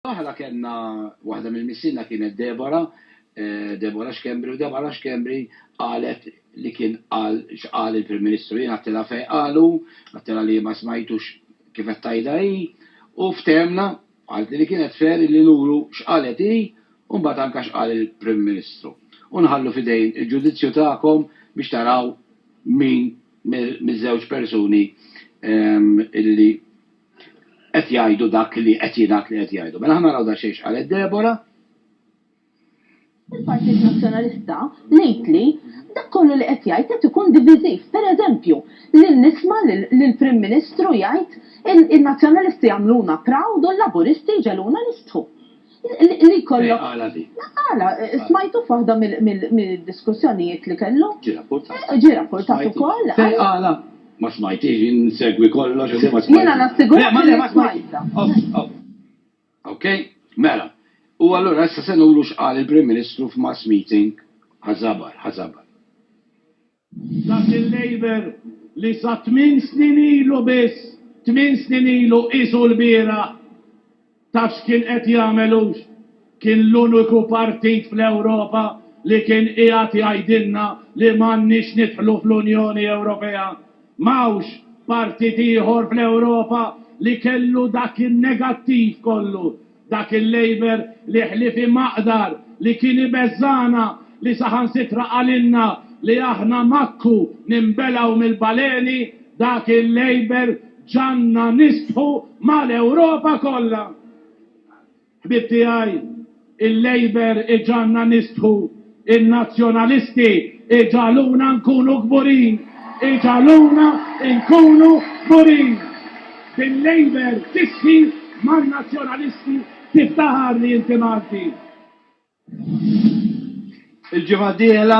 Aħna kellna, waħda mill-missiena kienet Deborah, Deborah Schembri, u Deborah Schembri qalet li kien qal x'qal il-Prim Ministru. Jien għadtilha fejn qalu, għadtilha li ma smajtux kif qed tgħidha hi, u ftehemna, qaltli li kienet fair illi nuru x'qalet hi u mbagħad anke x'qal il-Prim Ministru. U nħallu f'idejn il-ġudizzju tagħkom biex taraw min miż-żewġ persuni illi qed jgħidu dak li qed jingħad li qed jgħidu. Mela ħa naraw daqsxejn x'qalet Deborah. Il-Partit Nazzjonalista ngħid li dak kollu li qed jgħid qed ikun diviżiv. Pereżempju, li nisma' lill-Prim Ministru jgħid in-Nazzjonalisti jagħmluna proud u l-Laburisti jġegħluna nistħu. Li kollok. Għala di. Għala, smajtu f'waħda mill-diskussjonijiet li kellu. Ġi rapportat. Ġi rapportat ukoll. Fej għala? Ma smajtix, jien nsegwi kollox. Jiena nassigura li ma smajta. Ok, mela. U allura issa se nuru x'qal il-Prim Ministru f'mass meeting ħażabar, ħażabar. Dak il-Labour li sa tmien snin ilu biss, tmien snin ilu qisu l-bieraħ, taf x'kien qed jagħmel hux? Kien l-uniku partit fl-Ewropa li kien qiegħed jgħidilna li m'għandniex nidħlu fl-Unjoni Ewropea. M'hawnx partit ieħor fl-Ewropa li kellu dak in-negattiv kollu Dak il-Labour li ħlief imaqdar, li kien ibeżżagħna, li saħansitra qalilna li aħna makku ninbelgħu mill-baleni, dak il-Labour ġagħalna nistħu mal-Ewropa kollha! Ħbieb tiegħi, il-Labour iġagħalna nistħu In-Nazzjonalisti iġagħluna nkunu kburin, iġagħluna nkunu kburin! Bil-Labour tixħi man-Nazzjonalisti tiftaħar li inti Malti! Il-ġimgħa d-dieħla.